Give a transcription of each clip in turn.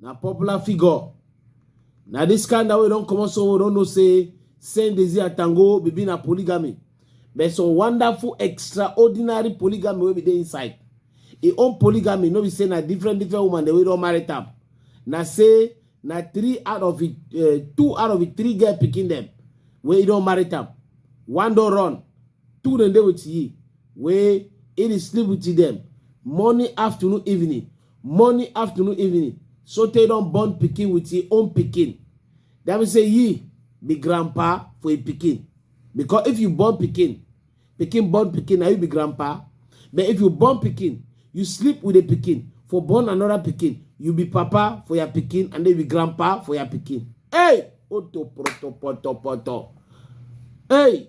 na popular figure na this scandal wey don comot so we don know say saint desi atango be be na polygamy but some wonderful extraordinary polygamy wey be dey inside e own polygamy no be say na different different woman dem wey don marry am na say na three out of it uh, two out of it three girl pikin dem wey e don marry am one don run two dem dey with ye wey e dey sleep with them morning afternoon evening morning afternoon evening sotey don born pikin with him own pikin that mean say he be grandpa for him pikin because if you born pikin pikin born pikin na you be grandpa but if you born pikin you sleep with a pikin for born another pikin you be papa for your pikin and then you be grandpa for your pikin hey oto poto poto poto hey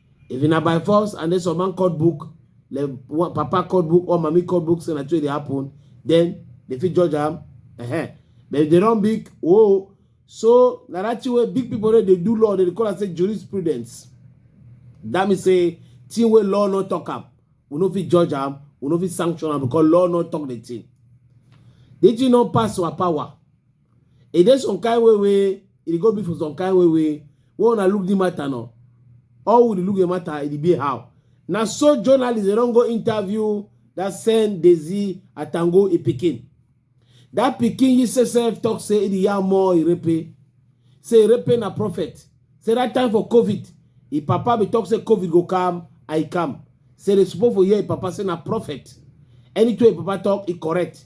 If na by force and then some man code book, like one papa code book or mommy code book, say na trade happen, then they fit judge them. Uh -huh. But if they don't big, oh, so now that way big people they do law, they call it say jurisprudence. That means say thing where law not talk up. We no fit judge them, we no fit sanction them because law not talk the thing. Did you not pass our power? e dey some kind way wey e dey go be for some kind way wey wey una look the matter now all we dey look the matter e dey be how na so journalist dey don go interview that send Daisy Atango e pikin that pikin he say sef talk say e dey yarn more Irepe say Irepe na prophet say that time for covid e papa be talk say covid go come and e come say they suppose for hear e papa say na prophet anything e papa talk e correct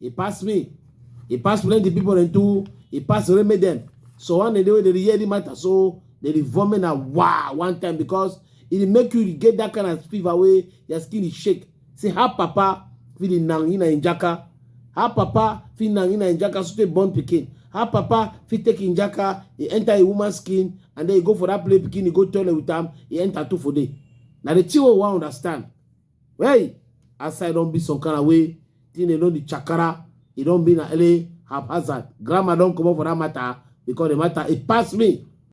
e pass me e pass plenty people dem too e pass remake dem so one day wey dey hear the matter so dey dey vomit na wow one time because e dey make you get that kind of fever wey your skin dey shake say how papa fit dey knack him na him jaka how papa fit knack him na him jaka so tey born pikin how papa fit take him jaka e enter a woman skin and then e go for that play pikin e go toilet with am e enter two for day na the thing wey we wan understand Hey, aside don be some kind of way, thing they know the chakara, it don't be na LA haphazard. Grandma don't come up for that matter because the matter it passed me.